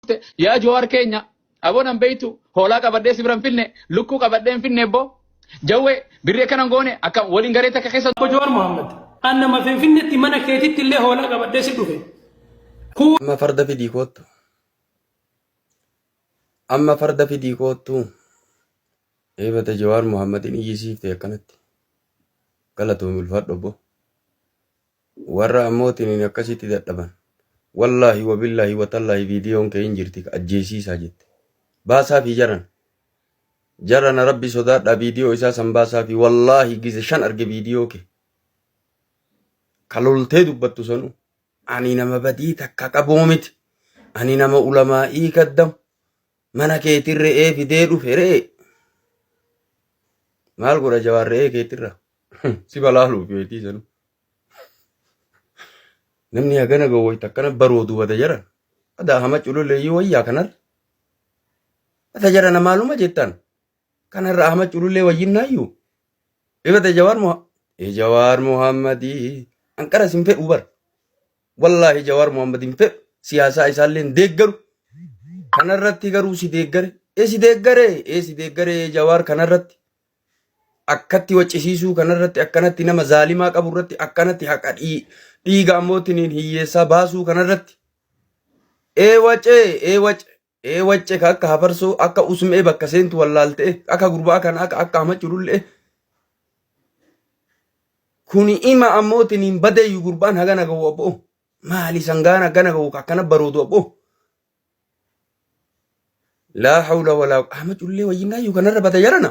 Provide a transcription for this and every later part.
dhufte yaa Jawaar keenya aboo nan beektu hoolaa qabadhee si biran finne lukkuu qabadhee hin finne boo jawwee birrii akkana hin goone akka waliin garee takka keessa Obbo Jawaar Mohaammed, an nama Finfinneetti mana keetitti illee hoolaa qabadhee si dhufe. Kuu Amma farda fidii koottu. Amma farda fidii koottu. Eebata Jawaar Muhammadin iyyisiifte akkanatti. Galatoomi ulfaadhu obbo. Warra ammootiin akkasitti dadhaban. Wallaahi wabillaahi watallaahi viidiyoon kee hin jirti ka ajjeesiisaa jette. Baasaafii jaran. Jarana rabbi sodaadhaa viidiyoo isaa san baasaafii wallaahi gize shan arge viidiyoo kee. Ka loltee dubbattu sanuu. Ani nama badii takka qabuu miti. Ani nama ulamaa'ii kaddamu. Mana keetiin re'ee fidee dhufe re'ee. Maal godha jawaar re'ee keetirra? Si balaaluuf beetii sanu. Namni hagana gowwoyta akkana baroodu bada jaran. Adaa hama cululeeyyii wayyaa kanar. Bada jarana maaluma jettan? Kanarra hama cululee wayyinnaayyuu. Ibada jawaar moha. Ee jawaar mohammadii. Anqara sin fedhuu bara. Wallaahi Jawaar Mohaammed hin fedhu. Siyaasaa isaallee hin deeggaru. Kanarratti garuu si deeggare. Ee si deeggare. Ee si deeggare Jawaar kanarratti. Akkatti waccisiisuu kanarratti akkanatti nama zaalimaa qabu irratti akkanatti haqa dhii- dhiiga ammootiin hiyyeessaa baasuu kanarratti. Ee wacee ee wace ee wacce ka akka hafarsoo akka usmee bakka seentu wallaalte akka gurbaa kana akka akka hamachu lullee kuni ima ammootiin hin badeeyyu gurbaan hagana gahu abboo maali sangaan hagana gahu ka akkana baroodu abboo laa hawla walaa hamachu lullee wayyinnaayyuu kanarra bada jarana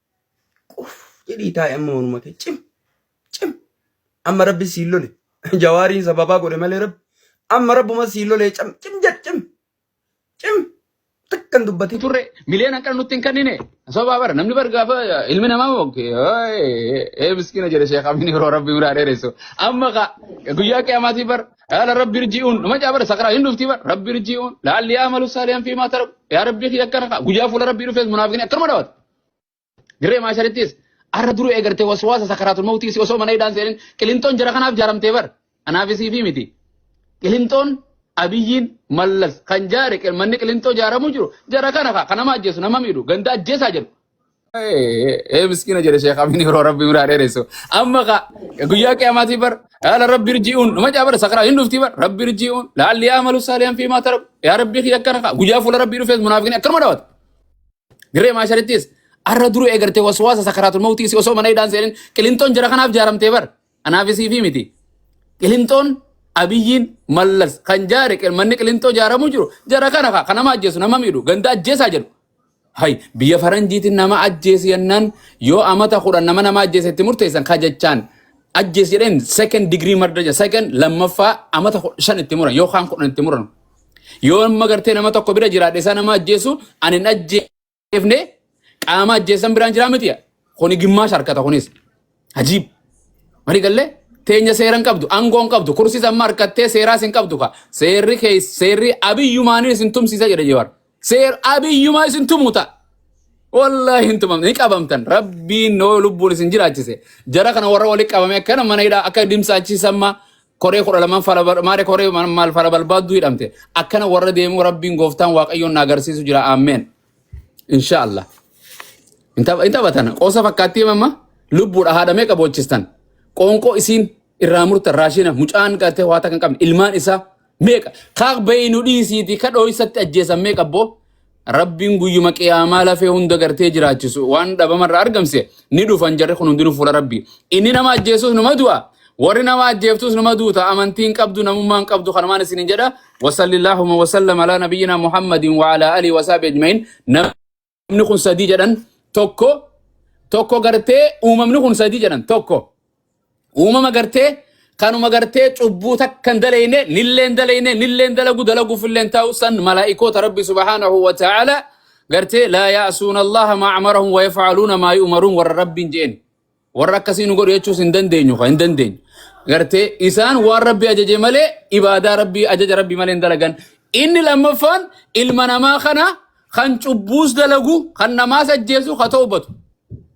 Quf jedhii taa'e amma manuma kee cim cim amma rabbi siin lole jawaariin sababaa godhe malee rabbi amma rabbuma siin lole cim cim jedh cim cim takkan dubbatin. turre miliyoon hanqina nutti hin kennine sababaa bara namni bar gaafa ilmi namaa mokke ee miskiina jedhe sheekh amiin yeroo rabbi biraa dheeressu amma ka guyyaa qiyamaatii bar yaala rabbi irji'uun nama caa bara sakaraa hin dhufti bar rabbi irji'uun laalli yaa malu saaliyan fi maa taraku yaa rabbi kiyya akkana ka guyyaa fuula rabbii dhufees munaafiqni akkanuma dhawata Dirree maasharittis arra duruu eegartee waswaasa sakaraatul mawtii si osoo mana hidhaan seenin qilinxoon jara kanaaf jaaramtee bar anaaf isii fi miti. Qilinxoon abiyyiin mallas kan jaare qil- manni qilinxoo jaaramuu jiru jara kana kaa kanama ajjeesu nama miidhu ganda ajjeesaa jedhu. Ee miskiina jedhe sheekh Amin yeroo rabbi biraa dheeressu. Amma kaa guyyaa qiyamaatii bar haala rabbi irji'uun nama jaabara sakaraa hin dhuftii bar rabbi irji'uun laalli yaa malu saaliyan fi maa tarabu yaa rabbi kiyya akkana kaa guyyaa fuula rabbii dhufees munaafiqni akkanuma dhawata. Dirree maasharittis arra duruu eegartee waswaasa sakaraatul mawtii si osoo mana hidhaan seenin qilinxoon jara kanaaf jaaramtee bar. Anaafis fi miti. Qilinxoon abiyyiin mallas kan jaare qil- manni qilinxoo jaaramuu jiru jara kana ka ka nama ajjeesu nama miidhu ganda ajjeesaa jedhu. Hay biyya faranjiitiin nama ajjeesi yennaan yoo amata kudhan nama nama ajjeese itti murteessan ka jechaan ajjees jedheen second degree murder jedha second lammaffaa amata kudha shan itti muran yookaan kudhan itti muran. Yoo amma gartee nama tokko bira jiraadhe isaa nama ajjeesu ani hin ajjeefne qaama ajjeessan biraan jiraa miti. Kuni gimmaasha harkata kunis. Ajiib. Mari gallee teenya seeran qabdu aangoon qabdu kursis amma harkattee seeraas hin qabdu ka seerri kee seerri abiyyumaanin isin tumsiisa jedhe jawar. Seer abiyyumaa isin tumuta. Wallahi hin tumamne ni qabamtan rabbiin noo lubbuun isin jiraachise jara kana warra walitti qabame akkana mana hidhaa akka dimsaachiisamma koree kudha lamaan fala bar- maare koree ma- maal fala balbaadduu hidhamte akkana warra deemuu rabbiin gooftaan waaqayyoon na agarsiisu jira ammeen inshaallah hin tapha- hin taphatan qoosa fakkaattii mamma lubbuudha haadha meeqa boochistan qoonqoo isiin irraa murtan raashina mucaan qabatee waa takka hin qabne ilmaan isaa meeqa kaaq bayinu dhiisiiti ka dhooysatti ajjeesan meeqa boo Rabbiin guyyuma qiyaamaa lafee hunda gartee jiraachisu waan dhabama irraa argamse ni dhufan jarri kun hundinuu fuula rabbii. Inni nama ajjeesus numa du'a. Warri nama ajjeeftus numa duuta. Amantiin qabdu namummaan qabdu kanumaan isinin jedha. Wasallillaahuma wasallam alaa nabiyyina Muhammadin wa alaa alii wasaabi ajmain. Namni kun sadii jedhan tokko tokko gartee uumamni kun sadii jedhan tokko. Uumama gartee kanuma gartee cubbuu takka hin daleyne nillee hin daleyne nillee hin dalagu dalaguuf illee hin taa'u san malaa'ikoota rabbi subhaanahu wa ta'ala gartee laa yaasuuna allaha maa amarahum wa yafcaluuna maa yu'maruun warra rabbiin je'en warra akkasii nu godhu jechuus hin dandeenyu ka hin dandeenyu gartee isaan waan rabbi ajaje malee ibaadaa rabbi ajaja rabbi malee hin dalagan inni lammaffaan ilma namaa kana kan cubbuus dalagu kan namaas ajjeesu ka toobatu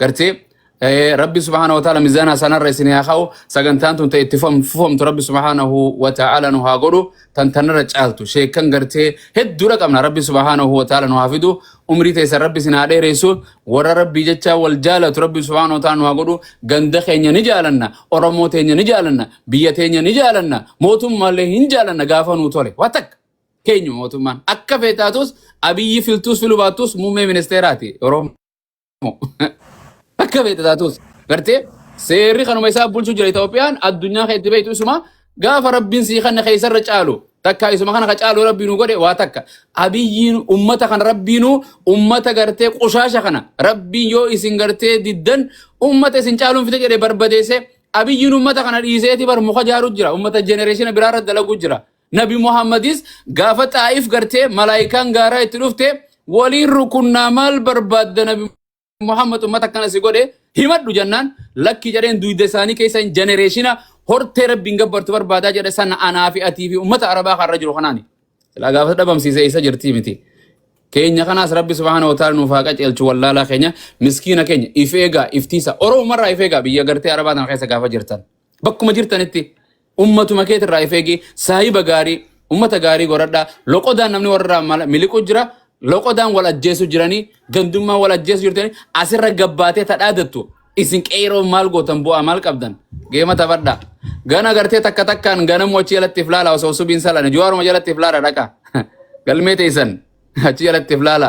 gartee eh, rabbi subhaana wa ta'ala mizaana sanarra isin haa ka'u sagantaan tun ta'e itti fufam- fufamtu rabbi subhaanahu wa ta'ala nu haa godhu tan tanarra caaltu sheekan gartee hedduudha qabna rabbi subhaanahu wa ta'ala nu haa fidu umrii teessan rabbi isin haa dheeressu warra rabbii jechaa wal jaalatu rabbi subhaanahu wa ta'ala nu haa godhu ganda keenya ni jaalanna oromoo teenya ni jaalanna biyya teenya ni jaalanna mootummaallee hin jaalanna gaafa nuu tole waa takka keenyu mootummaan akka feetaatus abiyyi filtuus filu baattus muummee ministeeraati oromoo Akka beekte taatus. Gartee seerri kanuma isaa bulchu jira Itoophiyaan addunyaa keetti beektu isuma gaafa rabbiin sii kanna keessarra caalu takka isuma kana ka caalu rabbiin nu godhe waa takka abiyyiin ummata kana rabbiinu ummata gartee qushaasha kana rabbiin yoo isin gartee diddan ummata isin caaluun fite jedhe barbadeesse abiyyiin ummata kana dhiiseeti bar muka jaaru jira ummata jenereeshina biraarra dalagu jira. Nabi Muhammadis gaafa xaa'if gartee malaayikaan gaaraa itti dhufte waliin rukunnaa maal barbaadda nabi Muhammad ummata akkana si godhe himadhu jennaan lakki jedheen duyda isaanii keessa hin jenereeshina hortee rabbiin gabbartu barbaadaa jedhe sana anaa fi atii fi ummata arabaa kanarra jiru kanaani. Silaa gaafa dhabamsiise isa jirtii miti. Keenya kanaas rabbi subhaana wa ta'ala nuuf haa qajeelchu wallaalaa keenya miskiina keenya if eegaa iftiisa oromumarraa if eegaa biyya gartee arabaa tana keessa gaafa jirtan bakkuma jirtanitti Ummatuma keet irraa if eegi, saahiba gaarii, ummata gaarii goradhaa, loqodaan namni warra mala- miliqu jira, loqodaan wal ajjeesu jiranii, gandummaan wal ajjeesu jirtanii, asirra gabbaatee tadhaadattu, isin qeeroo maal gootan bu'aa maal qabdan? Geema taphadhaa. Gana gartee takka takkaan ganamuu achi jalatti if laala osoo subiin salane, juwaaruma jalatti if laala dhaqa. Galmee teessan achi jalatti if laala.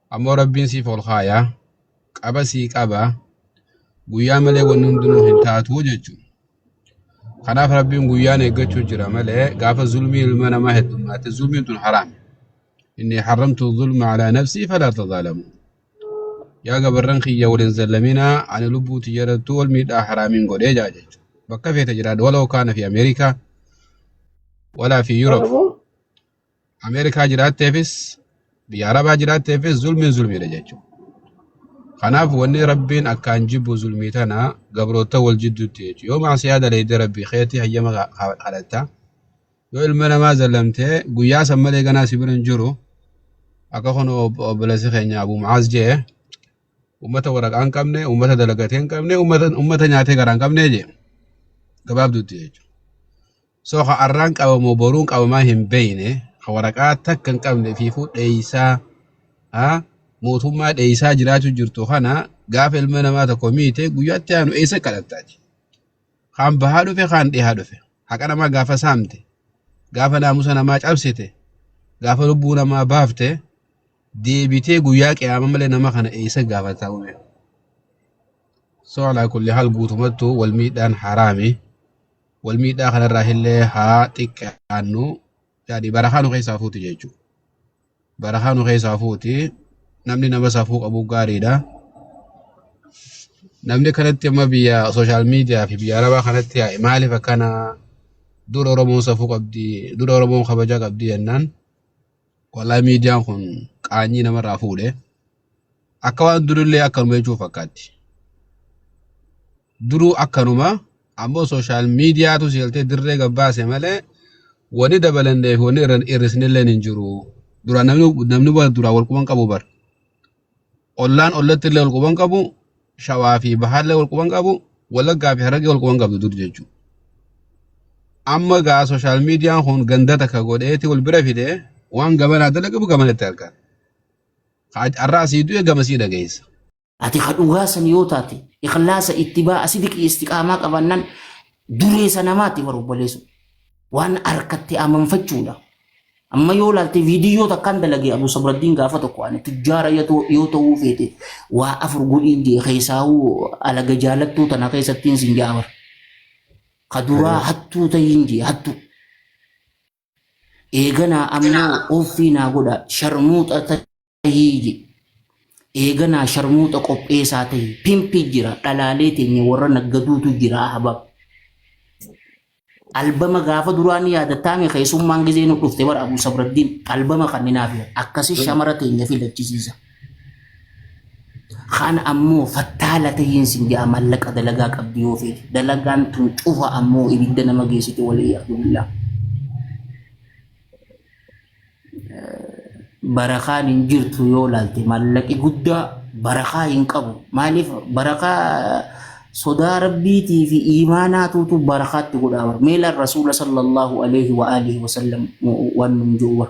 Ammoo Rabbiin siif ol kaayaa qaba sii qaba guyyaa malee wanni hundinuu hin taatu jechuudha. Kanaaf Rabbiin guyyaan eeggachuu jira malee gaafa zulmii ilma namaa heddummaate zulmiin tun haraam. Inni haramtu zulma alaa nafsii falaa tazaalamu. Yaa gabarran kiyya waliin zallaminaa ani lubbuu tiyyarattuu wal miidhaa haraamiin godhee jaa jechuudha. Bakka feete jiraadha waloo kaana fi Ameerikaa walaa fi Yuurop. Ameerikaa jiraatteefis biyya Arabaa jiraatteefis zulmiin zulmiidha jechuudha. Kanaaf wanni Rabbiin akkaan jibbu zulmii tana gabroota wal jidduutti jechuudha. Yoo maasiyaa daleeyde Rabbii keetii hayyama ka- ka- kadhatta. Yoo ilma namaa zallamtee guyyaa san malee ganaa si bira hin jiru. Akka kun ob- obboleessi keenya Abu Mu'aaz jee uummata waraqaa hin qabne, uummata dalagatee hin qabne, uummata uummata nyaatee garaa hin qabne jee gabaabduutti jechuudha. So ka arraan qabamoo boruun qabamaa hin beeyne ka waraqaa takka hin qabne fiifuu dheeysaa ha mootummaa dheeysaa jiraachuu jirtu kana gaafa ilma namaa tokko miite guyyaatti aanu eessa kadhattaati. Kaan bahaa dhufe kaan dhihaa dhufe haqa namaa gaafa saamte gaafa naamusa namaa cabsite gaafa lubbuu namaa baafte deebitee guyyaa qiyaama malee nama kana eessa gaafataa uume. So alaa kulli haal guutumattuu wal miidhaan haraami. wal miidhaa kanarraa illee haa xiqqaannu yaani barakaa nu keessaa fuuti jechuudha. Barakaa nu keessaa fuuti namni nama safuu qabu gaariidha. Namni kanatti amma biyya sooshaal miidiyaa fi biyya arabaa kanatti yaa'e maaliif akkana dura Oromoon safuu qabdi dura Oromoon kabajaa qabdi jennaan wallahi miidiyaan kun qaanyii namarraa fuudhe akka waan durillee akkanuma jechuun fakkaatti. Duruu akkanuma ammoo social mediatu si galtee dirree gad baase malee wani dabalannee fi wani irra hir'isnilleen hin jiru. Duraan namni namni wal duraan wal quban qabu bar. Ollaan ollatti illee wal quban qabu shawaa fi bahaallee wal quban qabu wallaggaa fi harargee wal quban qabdu dur jechuudha. Amma gaa social median kun ganda takka godheeti wal bira fide waan gamanaa dalagamu gamanatti argata. Har'aa sii du'e gama sii dhageessa. Ati ka dhugaa san yoo taate ikhlaasa ittibaa'a sidiqii istiqaamaa qabannan dureessa namaati bar obboleessu. Waan harkatti amanfachuudha. Amma yoo laalte viidiyoo takkaan dalagee Abu Sabraddiin gaafa tokko ani tujjaara yoo ta'u- yoo ta'uu feete waa afur godhiin jee keessaahuu alaga jaalattuu tana keessattiin sin jaabar. Ka duraa hattuu ta'iin jee hattuu. Eeganaa ammoo offii naa godha sharmuuxa tahii je. Eeganaa sharmuuxa qopheesaa tahi pimpi jira dhalaalee teenya warra naggaduutu jira ahbab. Albama gaafa duraa ni yaadattaame keessummaan gizee nu dhufte bara Abu Sabraddiin albama kanninaaf akkasi shamara teenya filachisiisa. Kaan ammoo fattaala tahiin sin ja'a mallaqa dalagaa qabdi yoo feete. Dalagaan tun cufa ammoo ibidda nama geessite walii yaadullah. Barakaan hin jirtu yoo laalte mallaqi guddaa barakaa hin qabu. Maaliif barakaa sodaa rabbiitii fi iimaanaatuutu barakaatti godhaa bar. Meela rasuula sallallahu alaihi wa alihi wa sallam waan nun jiru bar.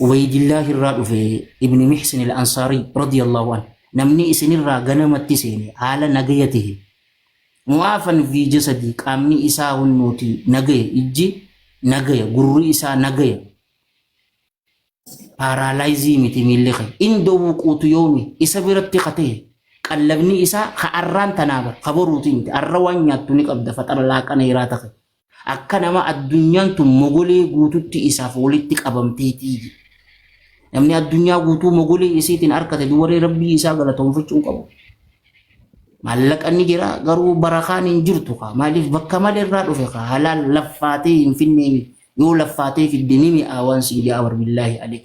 Ubaydillah irraa dhufe Ibn Mihsin al-Ansaari radiyallahu anhu namni isinirraa ganamatti seene haala nagaya tahe mu'aafan fi jasadii qaamni isaa hunnuuti nagaya ijji nagaya gurri isaa nagaya paaraalaayizii miti miilli kee indoo wuquutu yoomi isa biratti ka tahe qallabni isaa ka arraan tanaa bar ka boruuti miti arra waan nyaattu ni qabda faxara laaqana iraa tahe Akka nama addunyaan tun mogolee guututti isaaf walitti qabamteetii. Namni addunyaa guutuu mogolee isiitiin arkate dubaree rabbii isaa galatoomfachuu hin qabu. Maallaqa ni jira garuu barakaan hin jirtu kaa maaliif bakka malee irraa dhufe kaa halaal laffaatee hin finnee yoo laffaatee fidde ni mi'aa waan siin ja'a barbillaahi alik.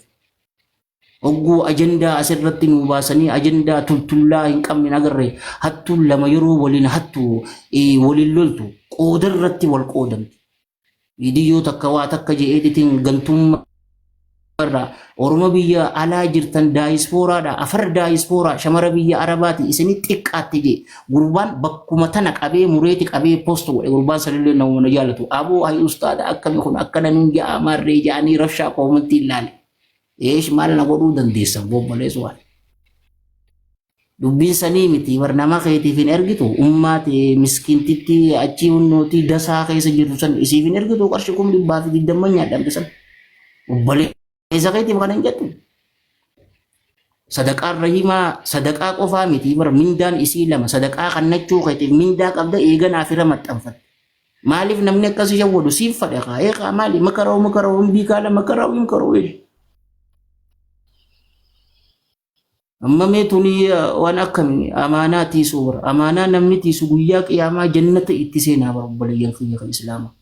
Ogguu ajandaa as irratti nuu baasanii ajandaa tultullaa hin qabne hin agarre hattuun lama yeroo waliin hattu eh, waliin loltu qooda irratti wal qoodamti. Viidiyyoo takka waa takka je editing gantummaa irraa Oromo biyya alaa jirtan daayispooraadha afar daayispooraa shamara biyya arabaati isini xiqqaatti je gurbaan bakkuma tana qabee mureeti qabee post godhe gurbaan sanillee namuma na jaalatu aboo hay ustaada akkami kun akkana nuun ja'a maarree ja'anii rabshaa koomantii ilaale. Eesh maal na godhuu dandeessa obboleessa waan. Dubbiin sanii miti bar nama keetiif hin ergitu ummaa ta'e miskiintitti achii hunnootii dasaa keessa jirtu san isiif hin ergitu qarshi kum dhibbaa fi digdamma nyaadhamte san. Obboleessa keetiif kan hin jettu. Sadaqaan rahimaa sadaqaa qofaa miti bar mindaan isii lama sadaqaa kannachuu keetiif mindaa qabda eeganaaf irra maxxanfatte. Maaliif namni akkas ishee godhu siif fadha kaa eegaa maali makaroo makaroo hin biikaala makaroo hin karoo hin. Amma mee tuni waan akkami amaanaa tiisuu bara amaanaa namni tiisu guyyaa qiyaamaa jannata itti seenaa bara obboleeyyan keenya kan islaamaa.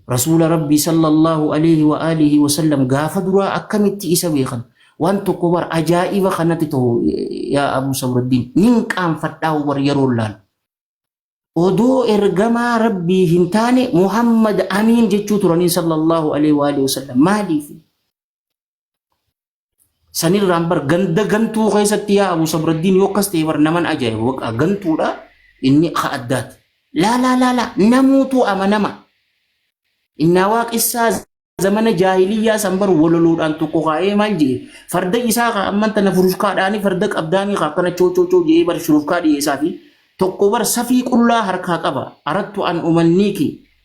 Rasuula Rabbii sallallahu alayhi wa alihi wa sallam gaafa duraa akkamitti isa beekan waan tokko bar ajaa'iba kanatti ta'u yaa Abu Samraddiin nin qaanfadhaa bar yeroo laal. Odoo ergamaa Rabbii hin taane Muhammad Amiin jechuu turaniin sallallahu alayhi wa alihi wa sallam maaliif? sanirraan bar ganda gantuu keessatti yaa Abu Sabraddiin yoo akkas ta'e bar naman ajaa'iba waqa gantuudha inni ka addaati. Laa laa laa laa namuutu amanama. Innaa waaqessaa zamana jaahiliyyaa san bar walaloodhaan tokko kaa'ee maal jedhe farda isaa ka amman tana furushkaadhaanii farda qabdaanii ka akkana choo choo choo jedhee bar shurufkaa dhiyeessaa fi tokko bar safii qullaa harkaa qaba arattu an umanniiki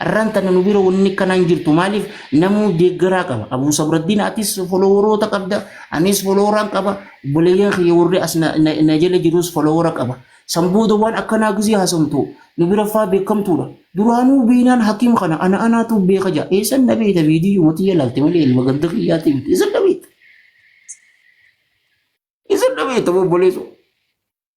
Arraan tana nu bira wanni akkanaa hin jirtu maaliif namuu deeggaraa qaba. Abuu Sabraddiin atis foloworoota qabda anis foloworaan qaba obboleeyyan kiyya warri as na, na, na jala jirus folowora qaba. San booda waan akkanaa gizii haasomtu nu bira faa beekamtuudha. Duraanuu beeynaan hakiim kana ana anaatu beeka jaa. Eessan na beeyta viidiyoo mootii jalaalte malee ilma ganda kiyyaati miti. Eessan na beeyta. Eessan na beeyta obboleessoo.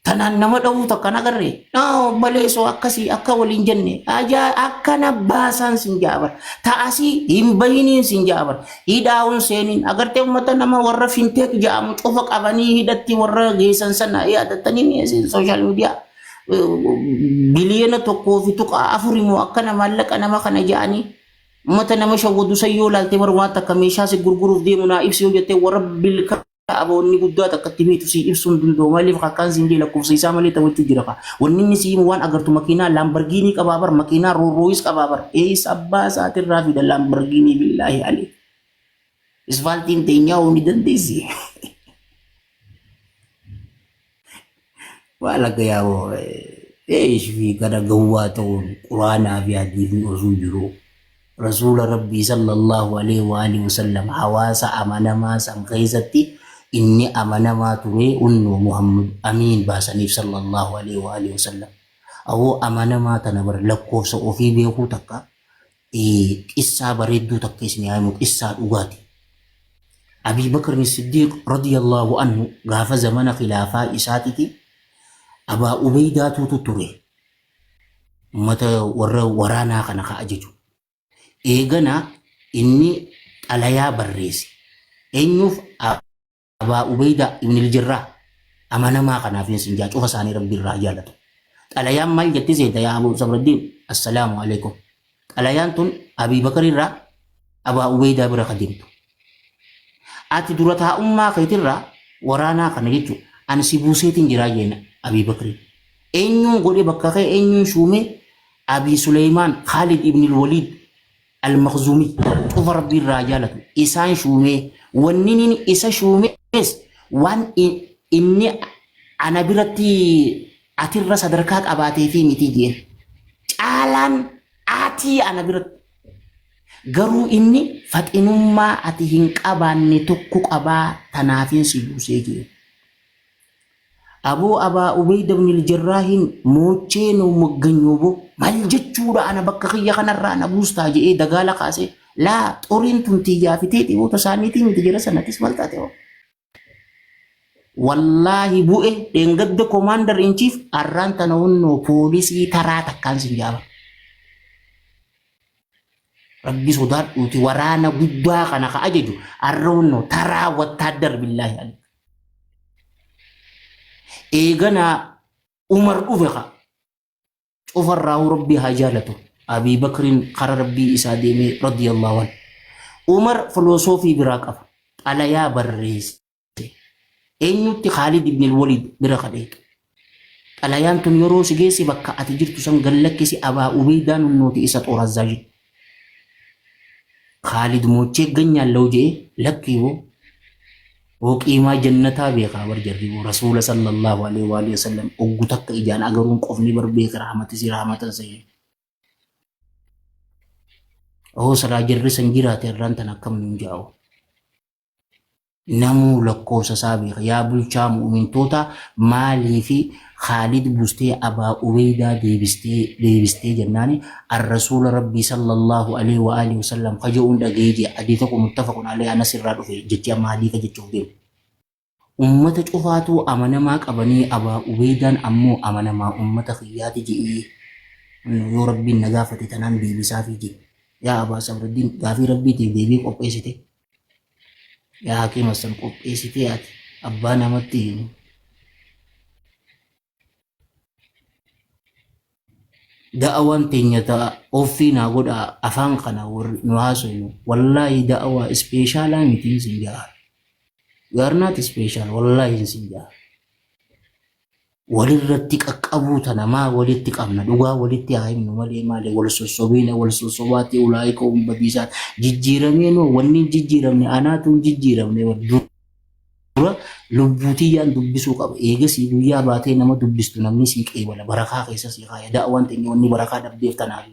Tanaan nama dhawuu takka hin agarre. Noo baleesoo akkasii akka waliin jenne ajaa akkana baasaan sin jaabar. Ta'asii hin bahiniin sin jaabar. Hidhaawun seeniin agartee uummata nama warra finteek ja'amu cufa qabanii hidhatti warra geessan sana yaadattanii mi'eessin sooshaal miidiyaa. Biliyoona tokkoo fi tuqaa afuri moo akkana maallaqa nama kana ja'anii uummata nama shawwadu san yoo ilaalte bar waan takka meeshaa si gurguruuf deemu naa ibsi yoo jettee warra bilka Abo wanni guddaa takka itti beektu sii ibsuu hin danda'u maaliif akkaan siin jee lakkoofsa isaa malee taphachuu jira ka wanni inni sii himu waan agartu makiinaa laambargiinii qabaa bar makiinaa roorrooyis qabaa bar eessa abbaa isaatirraa fida laambargiinii billaahi alee isfaaltiin teenyaa hoo ni dandeessi Waa laga yaaboo eesh fi kana gowwaa ta'uun quraanaa fi hadiifni osuu jiru rasuula rabbii sallallahu alaihi wa alihi wasallam hawaasa amanamaa san keessatti inni amanamaa ture unnoo Muhammad Amiin baasaniif sallallahu alaihi wa alihi wasallam awoo amanamaa tana bar lakkoofsa ofii beekuu takka Qissaa bareedduu takka isin haa himu qissaa dhugaati. Abii Bakrin Siddiiq radiyallaahu anhu gaafa zamana khilaafaa isaatiti Abaa Ubeydaatuutu ture ummata warra waraanaa kana ka ajaju. Eegana inni xalayaa barreesse. Eenyuuf? Abaa Ubeydaa Ibnil Jirraa amanamaa kanaaf hin sinjaa cufa isaanii rabbi irraa jaalatu. Xalayaan maal jetti seeta yaa Abuu Sabraddiin assalaamu alaikum. Xalayaan tun Abii Bakar irraa Abaa Ubeydaa bira kadimtu. Ati dura taa'ummaa keetirraa waraanaa kana jechuun ani si buuseetiin jiraa jeena Abii Bakriin. Eenyuun godhe bakka kee eenyuun shuumee Abii Suleymaan Khaalid Ibnil Waliid Al-Makhzumii, cufa Rabbi irraa jaalatu, isaan shuumee, wanni inni isa shuumees waan in- inni ana biratti atirra sadarkaa qabaatee fi miti jeen. Caalaan atii ana biratti garuu inni faxinummaa ati hin qabaanne tokko qabaa tanaafin si buusee jeen. Aboo Abaa Ubeyda ibnil Jarraahiin moochee noo mogganyo boo mal jechuudha ana bakka kiyya kanarraa na buustaa je'ee dagaala kaasee laa xoriin tun tiyyaa fi teeti boo tasaaniitii miti jara sanatis mal taate boo wallaahi bu'e dheengadda komaandar inchiif arraan tana wonnoo poolisii taraa takkaan sin jaaba rabbi sodaadhuuti waraana guddaa kana ka ajaju arra wonnoo taraa wattaaddar billaahi alik eeganaa umar dhufe ka cufarraahu rabbii haa jaalatu abii bakriin kara rabbii isaa deemee radiyallahu an umar filosoofii biraa qaba xalayaa barreesse eenyutti khaalid ibn waliid bira ka dheeqe Xalayaan tun yeroo si geesse bakka ati jirtu san gad lakkisi Abaa Ubeeydaa nunnooti isa xoor Azzaajii Khaalid moochee ganyaan law je'ee lakkii boo boo qiimaa jannataa beekaa bar jarri boo Rasuula sallallahu alaihi wa alihi wasallam oggu takka ijaan agaruun qofni bar beeka rahmatisi rahmatan seenee Ohoo silaa jarri san jiraate arraan tana akkam nuun ja'a hoo. Namuu lakkoofsa isaa beeka. Yaa bulchaa mu'umintootaa maaliifi Khaalid bustee Abaa Ubeydaa deebistee deebistee jennaani Ar-Rasuula Rabbii sallallahu aleyhi wa aalihi wasallam ka je'uun dhagaye je'a. Hadiisa kun muttafaqun aleyhi Anas irraa dhufe. Jechi amma hadiisa jechuuf deemu. Ummata cufaatuu amanamaa qabanee Abaa Ubeydaan ammoo amanamaa ummata kiyyaati je'ee yoo Rabbiin na gaafate tanaan deebisaafii je'e. Yaa Abaa Sabraddiin gaafii Rabbiitiif deebii qopheessite yaa hakiima san qopheessitee ati abbaa namatti himu da'awaan teenya ta'a offii naa godhaa afaan kana warri nu haasofnu wallaahi da'awaa ispeeshaalaa mitiin sin ja'a you are not special wallaahi sin ja'a walirratti qaqqabuu tana maa walitti qabna dhugaa walitti haa himnu malee maali wal sossobiina wal sossobaatti ulaa'ika hum badiisaan jijjiiramee noo wanni hin jijjiiramne anaatu hin jijjiiramne bar dura lubbuu tiyyaan dubbisuu qaba eegasii guyyaa baatee nama dubbistu namni sii qeebala barakaa keessa sii kaaya da'awaan teenya wanni barakaa dhabdeef tanaafi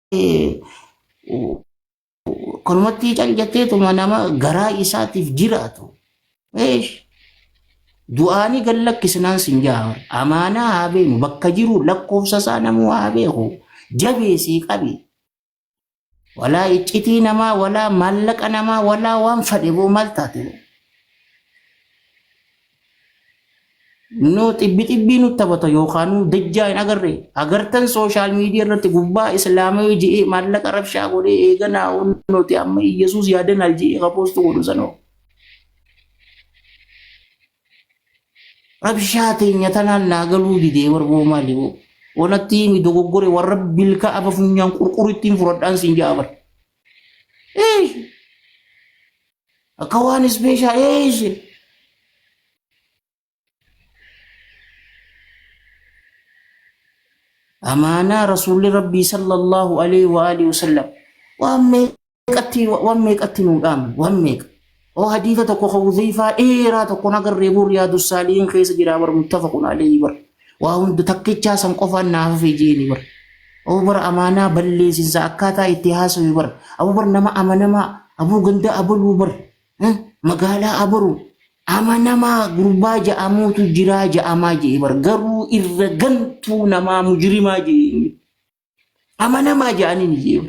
Kanumatti cal jetteetuma nama garaa isaatiif jiraatu. Eesh! Du'aanii gad lakkisnaan sin jaha. Amaanaa haa beenu bakka jiru lakkoofsa isaa namuu haa beeku. Jabeesii qabi. Walaa iccitii namaa walaa maallaqa namaa walaa waan fadhe boo maal taate. Noo xibbi xibbii nutti taphata yookaanuu dajjaa hin agarre agartan sooshaal miidiyaa irratti gubbaa islaamawii je'ee maallaqa rabshaa godhee eeganaa nuti amma Iyyasuus yaadanaal je'ee ka poostu godhu sanoo. Rabshaa teenya tanaan naa galuu didee warboo maali hoo. Wanatti himi dogoggore warra bilka aba funyaan qurqurittiin furadhaan siin ja'a bara. Eeshi. Akka waan ispeeshaal eeshi. Amaanaa rasuulli rabbii sallallahu alaihi wa alihi wasallam waan meeqatti waan meeqatti nuu dhaame waan meeqa. Hoo hadiisa tokko ka Huzeyfaa dheeraa tokko hin agarree boo Riyaadu Saalihiin keessa jiraa bar muttafaqun aleeyhi bar. Waa hunda takkichaa san qofaan naaf hafee jeeni bar. Abuu bar amaanaa balleessinsa akkaataa itti haasawe bar. Abuu bar nama amanamaa abuu ganda abaluu bar. Eh, Magaalaa abaruu amanamaa gurbaa ja'amuutu jiraa ja'amaa je'e bar. Garuu irra gantuu namaa mujrimaa je'e. amanamaa jedhaniin iyyee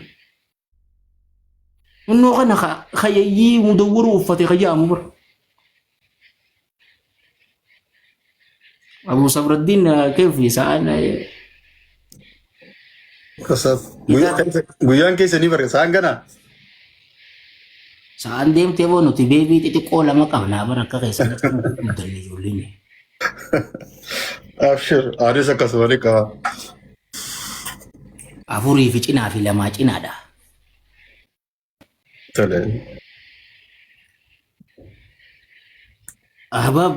innoo kana ka- kayayyii mudawwaruu uffate ka jedhamu bara abu sabraddiin keef isaan Asaf. Guyyaa- Guyyaan keessa ni barreessa. Hangana. Sa'aan deemtee boo nuti beebii xixiqqoo lama qabnaa bara akka keessan akka nu godhamu danne ijoolleen. Abshir, anis akkasuma ni qaba. Afurii fi cinaa fi lamaa cinaadha. Tole. Ahbaab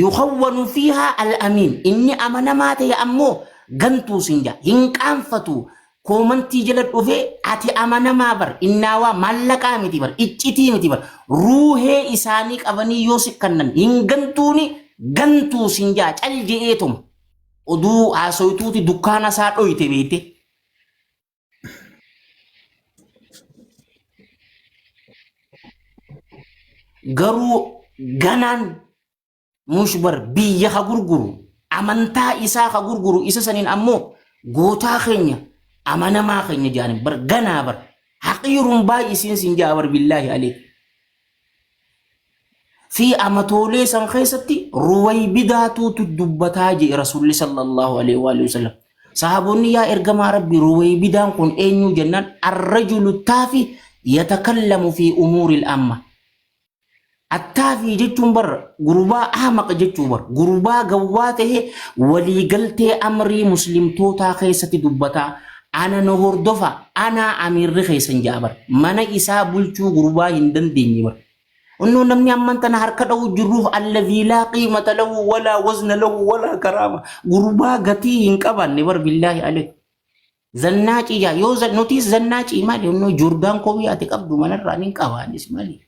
yukhawwanu fiihaa al-amiin inni amanamaa ta'e ammoo gantuu siin jedha hin qaanfatu koomantii jala dhufee ati amanamaa bar innaawaa maallaqaa miti bar iccitii miti bar ruuhee isaanii qabanii yoo si kannan hin gantuuni gantuu siin jedha cal je'eetuma oduu haasoytuuti dukkaana isaa dhoyte beeyte garuu ganaan mushbar biyya ha gurguru amantaa isaa ha gurguru isa saniin ammoo gootaa keenya amanamaa keenya jedhanii bar ganaa bar haqiiruun baay'isiin siin jaa bar billaahi aleek fi amatoolee san keessatti ruwaybidaatuutu dubbataa jee rasuulli sallallahu alaihi wa alihi wasallam sahaabonni yaa ergamaa rabbi ruwaybidaan kun eenyuu jennaan arrajulu taafi yatakallamu fi umuuril amma attaafii jechuun bar gurbaa ahmaq jechuu bar gurbaa gawwaa ta'e waliigaltee amrii muslimtootaa keessatti dubbataa Ana na hordofaa anaa amiirri keessan ja'a bar mana isaa bulchuu gurbaa hin dandeenye bar onnoo namni amman tana harka dha'uu jirruuf allazii laa qiimata lahu walaa wazna lahu walaa karaama gurbaa gatii hin qabaanne bar billaahi aleek zannaacii jaa yoo za- nutis zannaacii maali onnoo joordaan koowii ati qabdu manarraa nin qabaanis maali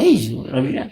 Eesh, rabidhaan.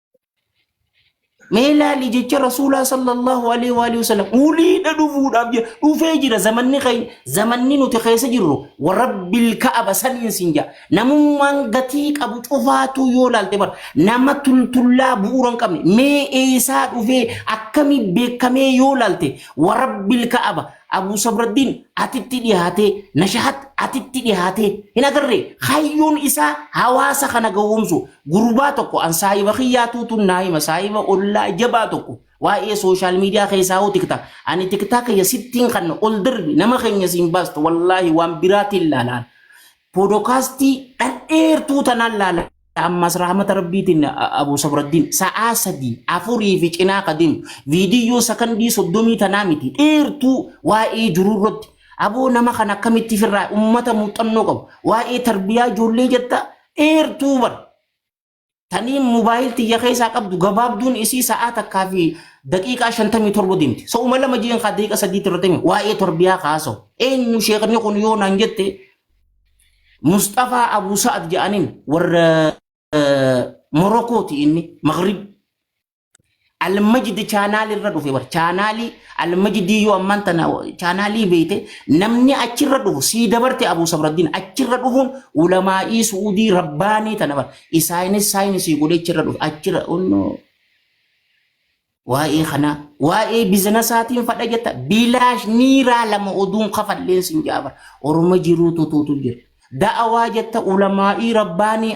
Mee laali jecha Rasuulaa sallallahu alaihi wa alihi wasallam uliidha dhufuudhaaf jira dhufee jira zamanni keenya zamanni nuti keessa jirru warabbil ka'aba saniin sin jaa namummaan gatii qabu cufaatuu yoo laalte bar nama tultullaa bu'uura hin qabne mee eessaa dhufee akkamii beekamee yoo laalte warabbil ka'aba Abuu Sabraddiin atitti dhiyaatee nashahat atitti dhiyaatee hin agarree kaayyoon isaa hawaasa kana gowwoomsu Gurbaa tokko an saahiba kiyyaa tuutuun naa hima saahiba ollaa jabaa tokko waa'ee sooshaal miidiyaa keessaa hoo tiktaa ani tiktaa kiyya sittiin kan ol darbi nama keenya siin baastu wallaahi waan biraatiin laalaan poodokaastii dhadheertuu tanaan laala ammas rahmata rabbiitiin abu sabraddiin sa'aa sadii afurii fi cinaa kadeem viidiyyoo sakandii soddomii tanaa miti dheertuu waa'ee jiruu irratti aboo nama kan akkamitti firraa ummata muuxannoo qabu waa'ee tarbiyaa ijoollee jetta dheertuu bar tanii mobaayil tiyya keessaa qabdu gabaabduun isii sa'aa takkaa fi daqiiqaa shantamii torba deemti. Sa'uma lama jiin kaa daqiiqa sadiitti irratti himi waa'ee torbiyaa kaasoo. Eenyu sheekni kun yoo naan jette Mustafaa Abu Sa'ad jedhaniin warra Morokkooti inni Maghrib. Almajidi chaanaali irra dhufe bar chaanaalii almajidii yoo ammaan tana chaanaalii beeyte namni achirra dhufu sii dabarte abuu sabraddiin achirra dhufuun ulamaa'ii su'uudii rabbaanii tana bar isaanis saayinisii godhe achirra dhufe achirra onnoo waa'ee kanaa waa'ee bizinasaatiin fadha jetta bilaash niiraa lama oduun kafalleen sin jaaba orma jiruu tutuutu jira da'awaa jetta ulamaa'ii rabbaanii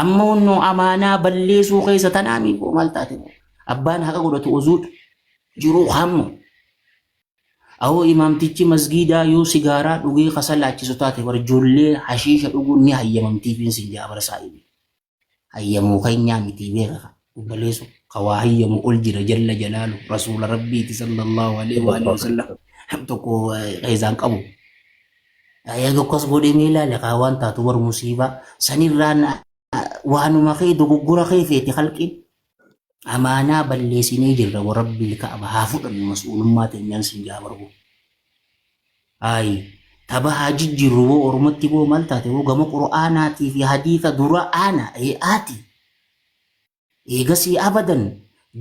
Amma onnoo amaanaa balleessuu keessa tanaa miikoo maal taate abbaan haqa godhatu ozuudha jiruu hamma. Awoo imaamtichi masgiidaa yoo sigaaraa dhugee kasa laachisu taate bar ijoollee hashiisha dhuguun ni hayyamamtiifiin sin jaabarsaa ibi. Hayyamuu keenyaa mitii beeka. obboleeso ka waa hayyamu ol jira jalla jalaalu rasuula rabbiiti sallallahu alaihi wa alihi wasallam nam tokko keessaan qabu yaa tokkos godhee mee ilaale kaa waan taatu bar musiibaa sanirraan waanuma kee dogoggora kee feete halqiin amaanaa balleesinee jirra wa rabbii ka'aba haa fudhannu mas'uulummaa teenyaan siin jaa barbu ayi taba haa jijjiirru boo ormatti boo maal taate boo gama qur'aanaatii fi hadiisa dura aana ee aati Eegasii abadan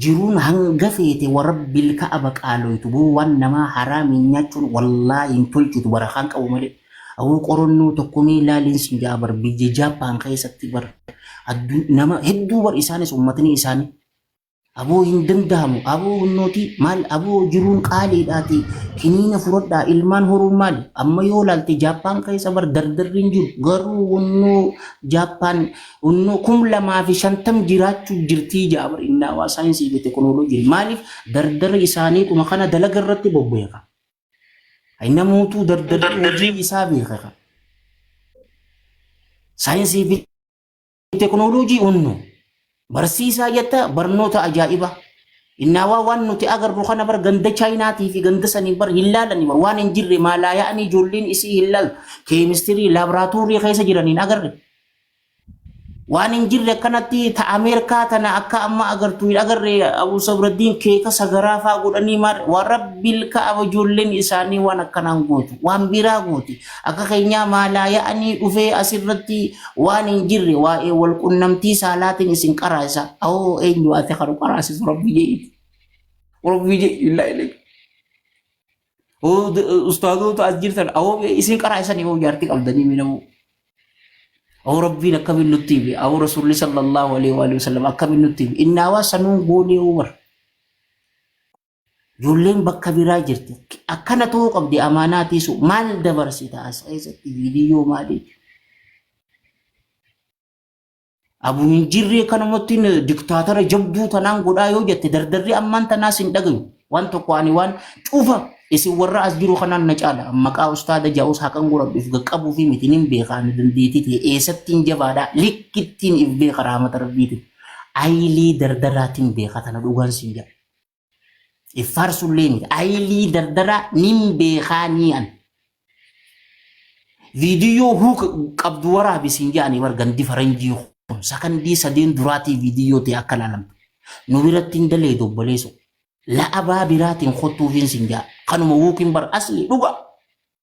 jiruun hanga feete warabbil ka'aba qaaloytu boo waan namaa haraamiin nyaachuun wallaahi hin tolchitu barakaan qabu malee aboo qoronnoo tokko mee laaliin sin ja'a bar biyya Japan keessatti bar addun nama hedduu bar isaanis ummatni isaanii Aboo hin danda'amu aboo hunnootii maal aboo jiruun qaaliidhaati kiniina furadhaa ilmaan horuun maali amma yoo laalte jaappaan keessa bar dardarri hin jiru garuu hunnoo jaappaan hunnoo kum lamaa fi shantam jiraachuu jirtii jaabar innaawaa saayinsii fi tekinooloojiin maaliif dardara isaanii kuma kana dalaga irratti bobbeeka namootuu dardarri hojii isaa beekaka saayinsii fi Teknooloojii hunnu barsiisaa jetta barnoota ajaa'iba. Innaawaa waan nuti agarru kana bar ganda Chaayinaatii fi ganda sanii bar hin laalani bar waan hin jirre maalaa yaa'anii ijoolleen isii hin laalu. Keemistirii laaboraatoorii keessa jiran hin agarre. Waan hin jirre akkanatti ta Ameerikaa tana akka amma agartu hin agarre Abuu Sabraddiin keeka sagaraa faa godhanii maal waan rabbil ka'aba ijoolleen isaanii waan akkanaan gootu waan biraa gooti. Akka keenyaa maalaaya'anii dhufee asirratti waan hin jirre waa'ee wal qunnamtii saalaatiin isin qaraasa. Awoo eenyu ati kan qaraasisu rabbi jeeti. Rabbi jeeti illaa illee. Ustaazoota as jirtan awoo isin qaraasan yoo jaartii qabdanii miidhamuu. Awoo rabbiin akkamiin nutti hime awoo rasuulli sallallahu alaihi wa sallam akkamiin nutti hime innaawaa sanuun goonee yoo bara. Ijoolleen bakka biraa jirti. Akkana ta'uu qabdi amaanaa tiisu. Maal dabarsita as keessatti viidiyoo maalii? Abu hin jirree kanumatti diktaatara jabduu tanaan godhaa yoo jette dardarri ammaan tanaas hin dhagayu. Waan tokko ani waan cufa isin warra as jiru kanaan na caala. Maqaa ustaada ja'us haqan godhadhuuf gaqqabuu fi mitiin hin beekaa ani dandeetii ta'e eessattiin jabaadhaa likkittiin if beeka raamata rabbiitiin. Ayilii dardaraatiin beeka tana dhugaan siin jedha. Iffaarsullee miti. Ayilii dardaraa nin beekaa nii an. Viidiyoo huu qabdu waraabi siin jedhanii bar gandi faranjii kun sakandii sadeen duraatii viidiyoo ta'e akka laalamtu. Nu biratti hin dalee dobboleesu. La'abaa biraatiin kottuufiin siin jedha. Kanuma wuukiin bar asli dhugaa.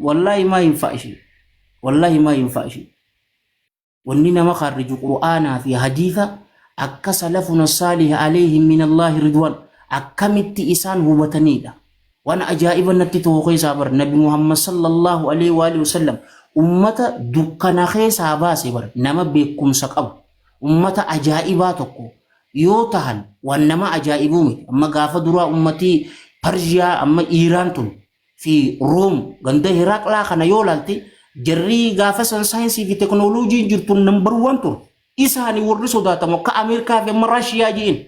Wallaahi maa hin fa'a ishee. Wallaahi maa hin fa'a ishee. Wanni nama kaarriju Qur'aanaa fi hadiisa akka salafuna saalih alayhim min Allaahi ridwaan akkamitti isaan hubataniidha. Waan ajaa'iba natti ta'u keessaa bar Nabi Muhammad sallallahu alayhi wa alihi wasallam ummata dukkana keessaa baase bar nama beekumsa qabu ummata ajaa'ibaa tokko yoo tahan waan nama ajaa'ibuu miti. Amma gaafa duraa ummatii Parshiyaa amma Iiraan tun fi Room ganda Hiraaqlaa kana yoo ilaalte jarrii gaafa san saayinsii fi teknooloojiin jirtu nambar waan ture. Isaani warri sodaatamu akka Ameerikaa fi amma Raashiyaa ji'in.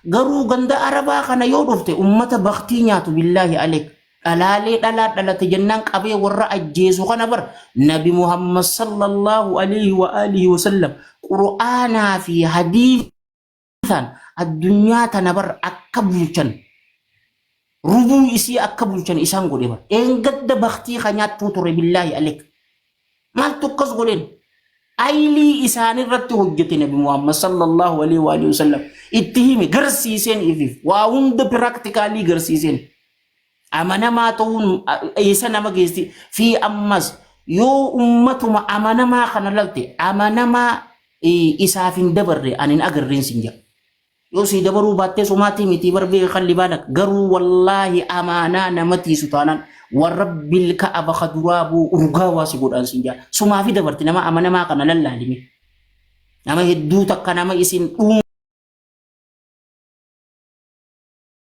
Garuu ganda Arabaa kana yoo dhufte ummata baktii nyaatu billaahi aleek. Dhalaalee dhalaa dhalate jennaan qabee warra ajjeesu kana bar Nabi Muhammad sallallahu alaihi wa alihi wa sallam Qur'aanaa fi hadiisa isaan addunyaa tana bar akka bulchan rubuu isii akka bulchan isaan godhe bar eengadda baktii ka nyaattuu ture billaahi alek maaltu akkas godheen aylii isaanirratti hojjete nabi muhammad sallallahu alaihi wa alihi wasallam itti hime garsiiseen ifiif waa hunda piraaktikaallii garsiiseen Amanamaa ta'uun eessa nama geessi? Fi ammas yoo ummatuma amanamaa kana lalte amanamaa eh, isaaf hin dabarre ani hin agarreen sin jedha. Yoo sii dabaruu baattee somaatii mitii barbee kan libaana garuu wallaahi amaanaa namatii sutaanaan warabbil ka'aba ka duraa buu urgaa waa si godhaan sin jedha. Sumaafi dabarti nama amanamaa kana lallaalime. Nama hedduu takka nama isin dhuun